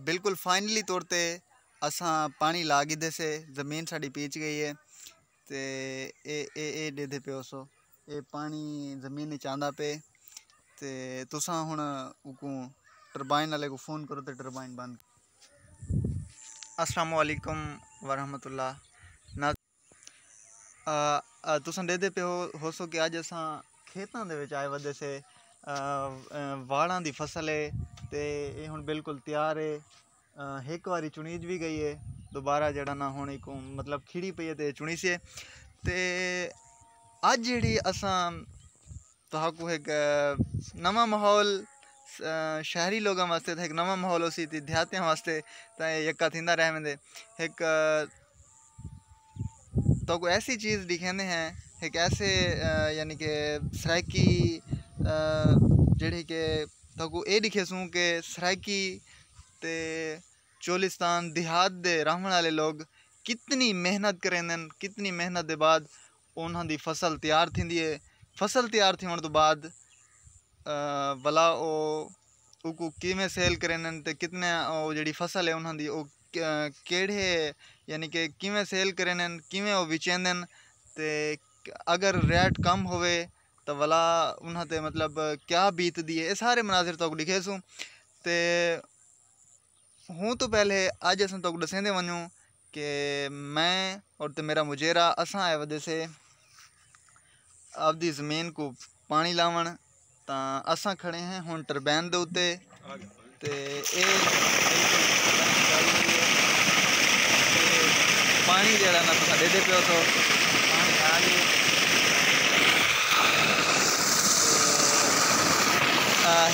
بالکل فائنلی طور تے اساں پانی لا گھدے سے زمین ساڈی پیچ گئی ہے تے اے اے اے ڈیدھے پیو سو اے پانی زمین وچ آندا پے تے تساں ہن اکوں ٹربائن والے کو فون کرو تے ٹربائن بند السلام علیکم ورحمۃ اللہ تساں ݙیہدے پئے ہوسو کہ اڄ اساں کھیتاں دے وچ آئے ودے سے واڑاں دی فصل ہے تے اے ہݨ بالکل تیار ہے ہک واری چݨیج وی ڳئی ہے دوبارہ جیڑھا نہ ہݨ ایکوں مطلب کھیڑی پئی ہے تے چݨیسے تے اڄ جیڑھی اساں تہاکوں ہک نواں ماحول شہری لوگاں واسطے تاں ہک نواں ماحول ہوسی تے دیہاتیاں واسطے تاں اے یکا تھیندا رہ ویندے ہک تہاکوں ایسی چیز ݙکھیندے ہیں ہک ایسے یعنی کہ سرائیکی جیڑھی کہ تہاکوں اے ݙکھیسوں کہ سرائیکی تے چولستان دیہات دے رہوݨ آلے لوگ کتنی محنت کریندن کتنی محنت دے بعد انہاں دی فصل تیار تھیندی ہے فصل تیار تھیوݨ توں بعد ولا او اوکوں کیویں سیل کرینن تے کتنے او جیڑھی فصل ہے انہاں دی او کیڑھے یعنی کہ کیویں سیل کرینن کیویں او وچیندن تے اگر ریٹ کم ہووے تاں ولا انہاں تے مطلب کیا بیتدی ہے اے سارے مناظر تہاکوں ݙیکھیسوں تے ہوں توں پہلے اڄ اساں تہاکوں ݙسیندے ونڄوں کہ میں اتے میݙا مجیرہ اساں آئے ودے سے آپدی زمین کوں پاݨی لاوݨ تاں اساں کھڑے ہیں ہݨ ٹربین دے اتے تے اے پاݨی جیڑھا نہ تساں ݙیندے پیو سو پاݨی آ گئے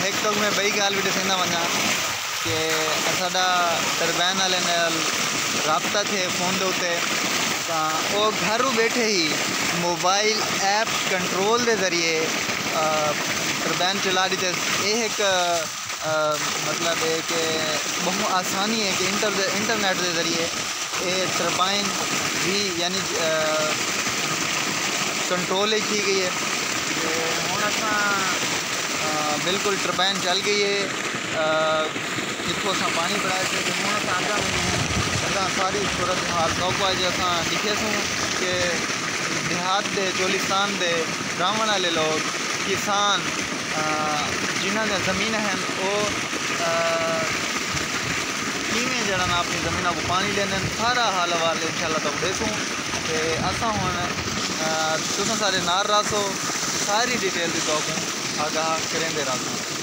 ہک تک میں ٻئی ڳالھ وی ݙسیندا ونڄاں کہ اساڈا ٹربین آلے نال رابطہ تھے فون دے اتے تاں او گھر و بیٹھے ہی موبائل ایپ کنٹرول دے ذریعے ٹربین چلا ڈیتے اے ہک مطلب اے کہ بہوں آسانی اے کہ انٹرنیٹ دے ذریعے اے ٹربائن وی یعنی کنٹرول اچ تھی گئی اے ہن اساں بالکل ٹربین چل گئی اے۔ جتھوں اساں پانی بنڑائے سے تے ہن اساں اگاں اگاں ساری صورتحال توکوں اج اساں لکھے سوں کہ دیہات دے چولستان دے راونڑ آلے لوگ کسان جنہاں دیاں زمیناں ہن او کیویں جیڑھا نا اپنی زمیناں کوں پانی ڈیندن سارا حال احوال انشاءاللہ توکوں ڈیسوں تے اساں ہن تساں سارے نال رہسو ساری ڈیٹیل دی توکوں آگاہ کریندے رہسوں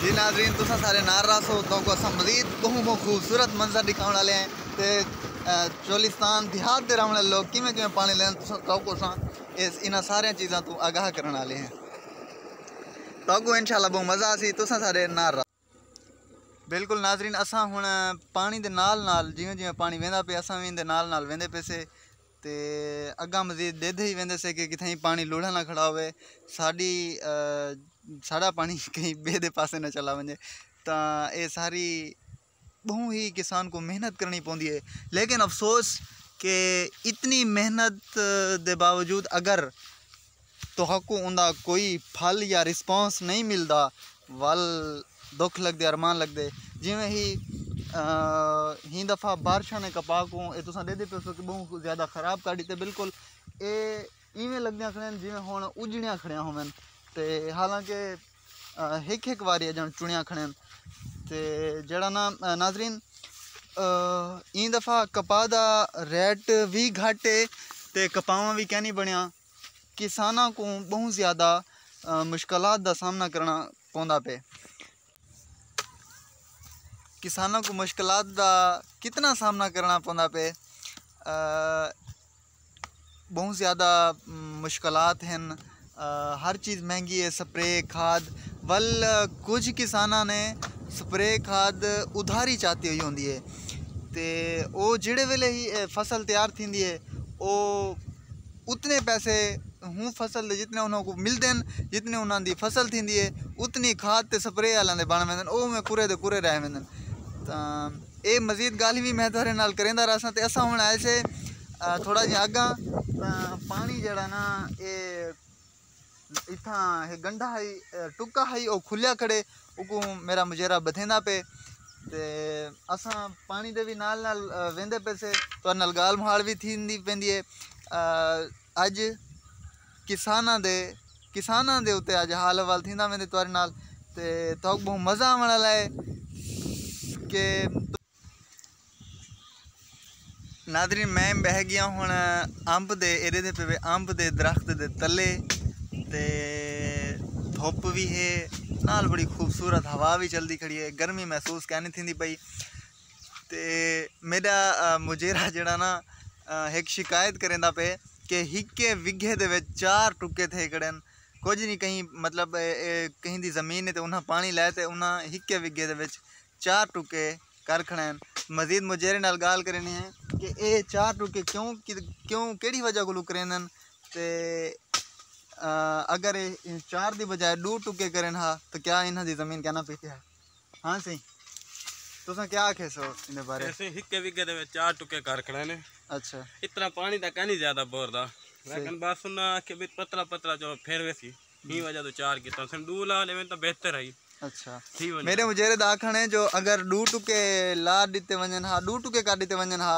جی ناظرین تساں سارے نال رہسو تہاکوں اساں مزید ٻہوں ٻہوں خوبصورت منظر ݙکھاوݨ آلے ہیں تے چولستان دیہات دے رہݨ آلے لوک کیویں کیویں پاݨی لیندن تساں تہاکوں اساں انہاں ساریاں چیزاں توں آگاہ کرݨ آلے ہیں تہاکوں انشاءاللہ ٻہوں مزہ آسی تساں سارے نال رہو۔ بلکل ناظرین اساں ہݨ پاݨی دے نال نال جیویں جیویں پاݨی ویندا پئے اساں وی ایندے نال نال ویندے پیسے تے اڳاں مزید ݙیدھے ہی ویندے سے کہ کتھائیں پاݨی لوڑھا نہ کھڑا ہووے ساݙی ساݙا پاݨی کہیں ٻئے دے پاسے نہ چلا ونڄے تاں اے ساری ٻہوں ہی کسان کوں محنت کرنڑی پوندی ہے لیکن افسوس کہ اتنی محنت دے باوجود اگر تہاکوں اوندا کوئی پھل یا رسپونس نئیں ملدا ول دکھ لگدے ارمان لگدے جیویں ہی ہی دفعہ بارشاں نے کپاہ کوں اے تساں ڈیکھدے پیسو کہ ٻہوں زیادہ خراب کر ڈتے بالکل اے ایویں لگدیاں کھڑیاں جیویں ہن اجڑیاں کھڑیاں ہوون تے حالانکہ ہک ہک واری اڄݨ چݨیا کھڑن تے جیڑھا نا ناظرین ایں دفعہ کپا دا ریٹ وی گھٹ ہے تے کپاواں وی کینی بݨیا کساناں کوں ٻہوں زیادہ مشکلات دا سامنا کرݨا پوندا پئے کساناں کوں مشکلات دا کتنا سامنا کرݨا پوندا پئے بہوں زیادہ مشکلات ہن ہر چیز مہنگی ہے سپرے کھاد ول کچھ کساناں نے سپرے کھاد ادھاری چاتی ہوئی ہوندی ہے تے او جیڑھے ویلے ہی فصل تیار تھیندی ہے او اتنے پیسے ہوں فصل دے جتنے انہاں کوں ملدے ہن جتنی انہاں دی فصل تھیندی ہے اتنی کھاد تے سپرے آلاں دے بݨ ویندن او اوویں کورے دے کورے رہ ویندن تاں اے مزید گالھ وی میں تہاڈے نال کریندا رہساں تے اساں ہن آئے سے تھوڑا جیاں اگاں پانی جیڑا نا اے اتھاں اے گنڈا ہئی ٹکا ہئی او کھلیا کھڑے اوکوں میرا مجیرہ بدھیندا پے تے اساں پانی دے وی نال نال ویندے پے سے تہاڈے نال گالھ مہاڑ وی تھیندی پیندی اے اج کساناں دے کساناں دے اتے اج حال احوال تھیندا ویندے تہاڈے نال تے تہاکوں بہوں مزہ آوݨ آلا ہے کہ ناظرین میں بہہ گیا ہن امب دے ایرے دے پہ امب دے درخت دے تلے تے دھوپ وی ہے نال بڑی خوبصورت ہوا وی چلدی کھڑی ہے گرمی محسوس کینی تھیندی پئی تے میݙا مجیرہ جیڑھا نا ہک شکایت کریندا پئے کہ ہکے وگھے دے وچ چار ٹکے تھئے کھڑن کجھ نی کہیں مطلب کہیں دی زمین ہے تے انہاں پاݨی لائے تے انہاں ہکے وگھے دے وچ چار ٹکے کر کھڑن مزید مجیرے نال ڳالھ کریندے ہیں کہ اے چار ٹکے کیوں کیوں کیڑھی وجہ کولوں کریندن تے اگر اے چار دی بجائے ݙو ٹکے کرن ہا تاں کیا انہاں دی زمین کینا پیسی ہا ہاں سی تساں کیا آکھے سو ان بارے ایسے ہکے وگے دے وچ چار ٹکے کر کھڑے نے اچھا اتنا پانی دا کہیں زیادہ بور دا لیکن بس انہاں آکھے بھی پتلا پتلا جو پھر ویسی ہی وجہ تو چار کیتا سن دو لا لے تو بہتر ہے اچھا میرے مجرد آکھن ہے جو اگر دو ٹکے لا دیتے ونجن ہا دو ٹکے کر دیتے ونجن ہا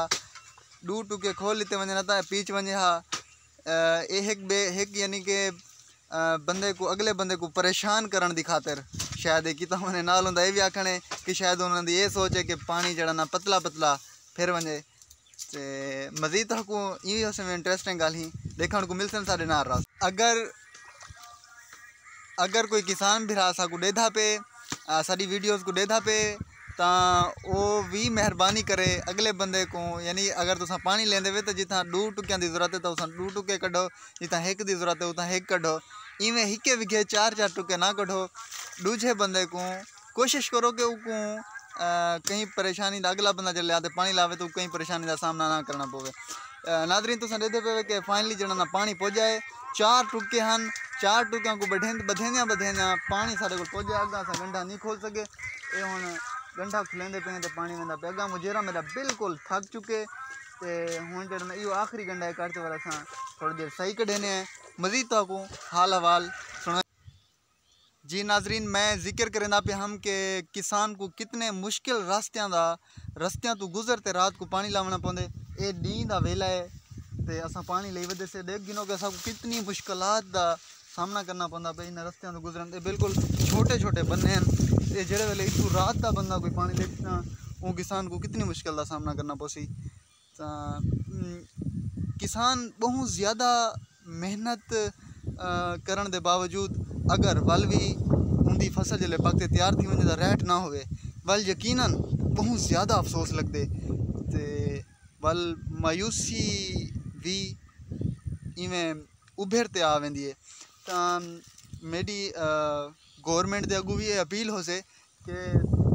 دو ٹکے کھول دیتے ونجن ہا تا پیچ ونجے ہا ایہ ہک بے ہک یعنی کہ بندے کوں اگلے بندے کوں پریشان کرݨ دی خاطر شاید ایہ کیتا ہونے نال اوندا ایہ وی آکھݨ ہے کہ شاید انہاں دی ایہ سوچ ہے کہ پاݨی جیڑھا نہ پتلا پتلا پھر ونڄے تے مزید تہاکوں ایہ وی اساں وی انٹریسٹنگ ڳالھ ہی ݙیکھݨ کوں ملسن ساݙے نال رہو اگر اگر کوئی کسان بھرا سا کو ڈیدھا پے ساری ویڈیوز کو ڈیدھا پے تا او وی مہربانی کرے اگلے بندے کو یعنی اگر تساں پانی لیندے وے جتھاں ڈو ٹکیاں دی ضرورت ہے تو اتھاں ڈو ٹکے کڈھو جتھاں ہک دی ضرورت ہے اتھاں ہک کڈھو ایویں ہکے وگھے چار چار ٹکے نہ کڈھو ڈوجھے بندے کو کوشش کرو کہ اوکوں کہیں پریشانی دا اگلا بندہ جلیا تے پانی لاوے تو کہیں پریشانی دا سامنا نہ کرنا پوے ناظرین تساں دیکھتے پہ کہ فائنلی جڑا نا پانی پوجا ہے چار ٹکے ہن چار ٹکیاں کو بدھیندے بدھیندے بدھیندے پانی سارے کو پوجا ہے اگا اسا گنڈا نہیں کھول سکے اے ہن گنڈا کھلیندے پہ تے پانی ویندا پہ اگا مجیرا میرا بالکل تھک چکے تے ہن جڑا نا ایو آخری گنڈا ہے کر تے والا تھا تھوڑی دیر سائی کڈھینے ہیں مزید تو کو حال حوال جی ناظرین میں ذکر کریندا پیا ہم کہ کسان کو کتنے مشکل راستیاں دا رستیاں تو گزر تے رات کو پانی لاونا پوندے اے ڈینہہ دا ویلا ہے تے اساں پانی لئی ودے سے ڈیکھ گھنو کہ اساں کو کتنی مشکلات دا سامنا کرنا پوندا پئے انہاں رستیاں توں گزرن تے بالکل چھوٹے چھوٹے بندے ہیں اے جیڑے ویلے اتھوں رات دا بندہ کوئی پانی لئی تاں اوں کسان کو کتنی مشکل دا سامنا کرنا پوسی کسان بہوں زیادہ محنت کرݨ دے باوجود اگر ول وی اُن دی فصل جیلے پک تے تیار تھی ونڄے تاں ریٹ نہ ہووے ول یقیناً بہوں زیادہ افسوس لڳدے تے ول مایوسی وی ایویں اُبھر تے آ ویندی ہے تاں میݙی گورنمنٹ دے اڳوں وی اپیل ہوسے کہ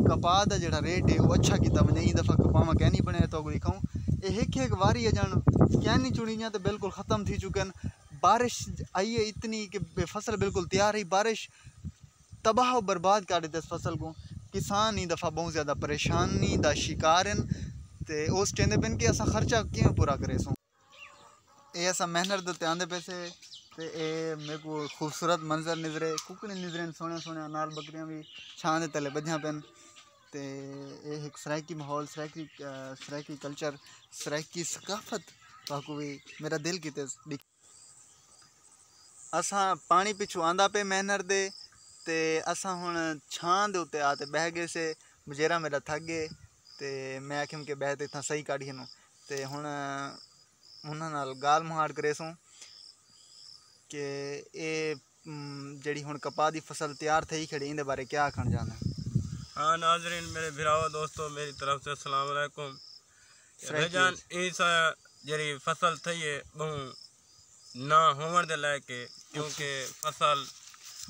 کپاہ دا جیڑھا ریٹ ہے او اچھا کیتا ونجے ایں دفعہ کپاہ ما کینی بنڑیا تو کوئی کھاؤں اے ہک ہک واری اجن کینی چنڑیاں تے بالکل ختم تھی چکن بارش آئی ہے اتنی کہ فصل بالکل تیار ہی بارش تباہ و برباد کر ڈتے اس فصل کوں کسان ایں دفعہ بہوں زیادہ پریشانی دا شکار ہن تے او سٹیندے پن کہ اساں خرچہ کیویں پورا کریسوں۔ اے اساں محنت دے اتے آندے پئے سے تے اے میکوں خوبصورت منظر نظرے ککڑیں نظرے ہن سوہݨیاں سوہݨیاں نال ٻکریاں وی چھاں دے تلے ٻدھیاں پئین تے اے ہک سرائیکی ماحول سرائیکی سرائیکی کلچر سرائیکی ثقافت تہاکوں وی میݙا دل کیتے ݙیکھ اساں پاݨی پچھوں آندا پئے محنت دے تے اساں ہݨ چھاں دے اتے آ تے ٻہہ ڳئے سے ٻجیرا میݙا تھک ڳئے تے میں آکھیم کہ ٻہہ تے اتھاں سئیں کاڈھ گھنوں تے ہݨ انہاں نال ڳالھ مہاڑ کریسوں کہ اے جیڑھی ہݨ کپاہ دی فصل تیار تھئی کھڑی ایندے بارے کیا آکھݨ چاہندے ہاں ناظرین میݙے بھراواں دوستو میݙی طرف توں السلام علیکم بھائی جان ایں سا جیڑھی فصل تھئی ہے ٻہوں نہ ہووݨ دے لائق ہے کیونکہ فصل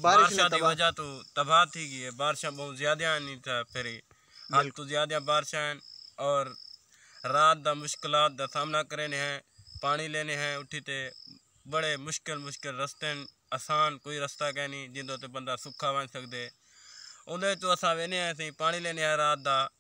بارشاں دی وجہ توں تباہ تھی ڳی ہے بارشاں ٻہوں زیادہ آنی تاں پھر حد توں زیادہ بارشاں ہن اور رات دا مشکلات دا سامنا کریندے ہیں پاݨی لیندے ہیں اٹھی تے بڑے مشکل مشکل رستے ہن آسان کوئی رستہ کینی جیندے تے بندہ سکھا ونڄ سڳدے اوندے توں اساں ویندے ہیں اسی پاݨی لیندے ہیں رات دا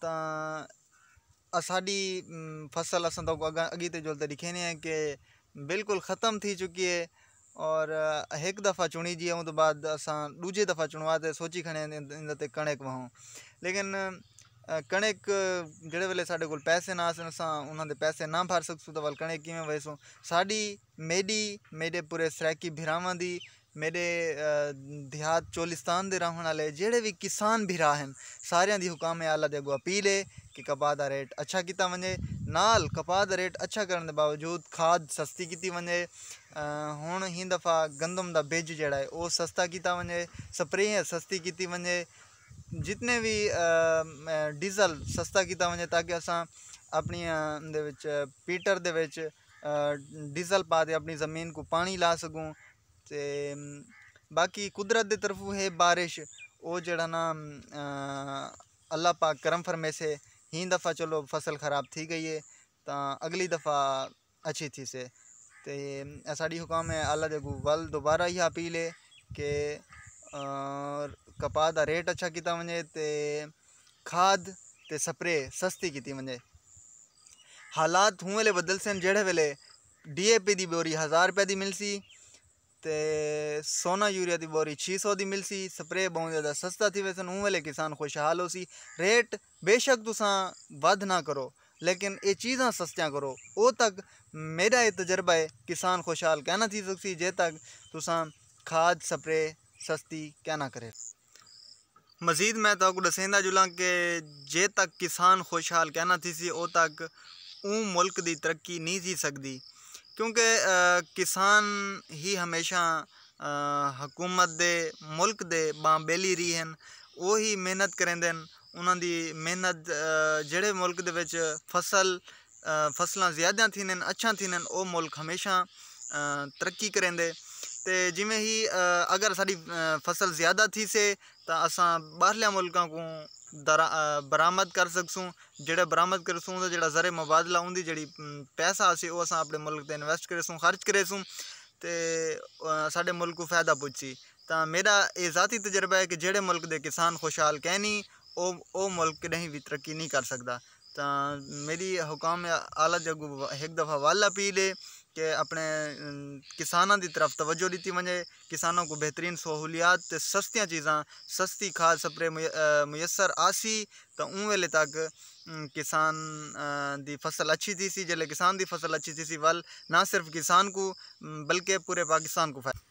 تاں اساݙی فصل اساں تہاکوں اگاں اڳیتے جلدے ݙیکھینے ہیں کہ بالکل ختم تھی چکی ہے اور ہک دفعہ چنڑی جی ہے اوندے بعد اساں ݙوجھی دفعہ چنڑوا تے سوچی کھڑے ہیں ایندے تے کنڑک وہاوں لیکن کنڑک جیڑھے ویلے ساݙے کول پیسے نا ہاسن اساں انہاں دے پیسے نا بھر سڳسوں تاں ول کنڑک کیویں وہیسوں ساݙی میݙی میݙے پورے سرائیکی بھراواں دی میڈے دیہات چولستان دے رہنڑ آلے جیڑھے وی کسان بھرا ہن ساریاں دی حکام اعلی دے اگوں اپیل ہے کہ کپاہ دا ریٹ اچھا کیتا ونجے نال کپاہ دا ریٹ اچھا کرنڑ دے باوجود کھاد سستی کیتی ونجے ہنڑ ایں دفعہ گندم دا بج جیڑھا ہے او سستا کیتا ونجے سپریاں سستی کیتی ونجے جتنے وی ڈیزل سستا کیتا ونجے تاکہ اساں اپنڑیاں دے وچ پیٹر دے وچ ڈیزل پا تے اپنی زمین کوں پانی لا سگوں تے باقی قدرت دی طرف ہے بارش او جیڑا نا اللہ پاک کرم فرمیسے ہی دفعہ چلو فصل خراب تھی گئی ہے تاں اگلی دفعہ اچھی تھی سے تے اساڈی حکام ہے اللہ دے اگوں ول دوبارہ ہی اپیل ہے کہ کپاہ دا ریٹ اچھا کیتا ونجے تے کھاد تے سپرے سستی کیتی ونجے حالات ہوں ویلے بدلسن جیڑھے ویلے ڈی اے پی دی بوری ہزار روپے دی ملسی تے سونا یوریا دی بوری چھی سو دی ملسی سپرے بہوں زیادہ سستا تھی ویسن اوں ویلے کسان خوشحال ہوسی ریٹ بیشک تساں ودھ نہ کرو لیکن اے چیزاں سستیاں کرو او تک میڈا اے تجربہ اے کسان خوشحال کہنہ تھی سکسی جے تک تساں کھاد سپرے سستی کہنہ کرے۔ مزید میں تہاکوں ڈسیندا جلاں کہ جے تک کسان خوشحال کینہ تھیسی او تک اوں ملک دی ترقی نی تھی سگدی کیونکہ کسان ہی ہمیشہ حکومت دے ملک دے بانہہ بیلی رہی ہن او ہی محنت کریندے ہن انہاں دی محنت جیہڑے ملک دے وچ فصل فصلاں زیادہ تھیندین اچھاں تھیندین او ملک ہمیشہ ترقی کریندے تے جیویں ہی اگر ساڈی فصل زیادہ تھیسے تاں اساں باہرلیاں ملکاں کوں درآ برآمد کر سکسوں جیڑھا برآمد کرسوں اوندا جیڑھا زر مبادلہ اوندی جیڑھی پیسہ اسی او اساں اپنے ملک تے انویسٹ کریسوں خرچ کریسوں تے ساڈے ملک کوں فائدہ پجسی تاں میڈا اے ذاتی تجربہ ہے کہ جیڑھے ملک دے کسان خوشحال کینی او او ملک کڈہیں وی ترقی نی کر سکدا تاں میݙی حکام اعلیٰ جاء کوں ہک دفعہ ول اپیل ہے کہ اپݨے کساناں دی طرف توجہ ݙتی ونڄے کساناں کوں بہترین سہولیات تے سستیاں چیزاں سستی کھاد سپرے میسر آسی تاں اوں ویلے تک کسان دی فصل اچھی تھیسی جیلے کسان دی فصل اچھی تھیسی ول نہ صرف کسان کوں بلکہ پورے پاکستان کوں فائدہ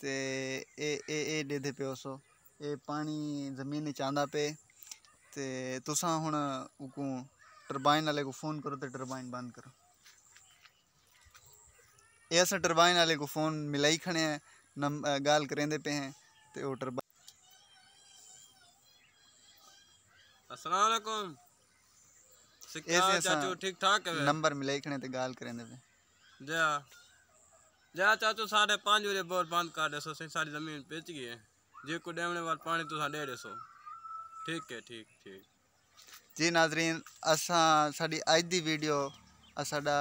تے اے اے اے ڈیدھے پے ہوسو اے پانی زمین اچ آندا پے تے تساں ہن اوکوں ٹربائن آلے کوں فون کرو تے ٹربائن بند کرو اے اساں ٹربائن آلے کوں فون ملائی کھڑے ہیں نم گال کریندے پے ہیں تے او ٹربائن السلام علیکم سکیال چاچو ٹھیک ٹھاک ہے نمبر ملائی کھڑے ہیں تے گال کریندے پے ہیں جیا جیا چاچو ساڈے پانچ وجے بور بند کر دے سو سائیں ساری زمین پچ گئی ہے جی کو ڈیونے وال پانی تساں ڈے دے سو ٹھیک ہے ٹھیک ٹھیک جی ناظرین اساں ساڈی اج دی ویڈیو ساڈا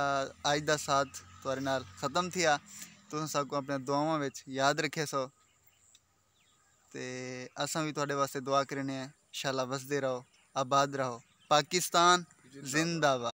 اج دا ساتھ تہاڈے نال ختم تھیا تساں ساکو اپنے دعاواں وچ یاد رکھے سو تے اساں وی تہاڈے واسطے دعا کرنے ہیں انشاءاللہ وسدے رہو آباد رہو پاکستان زندہ باد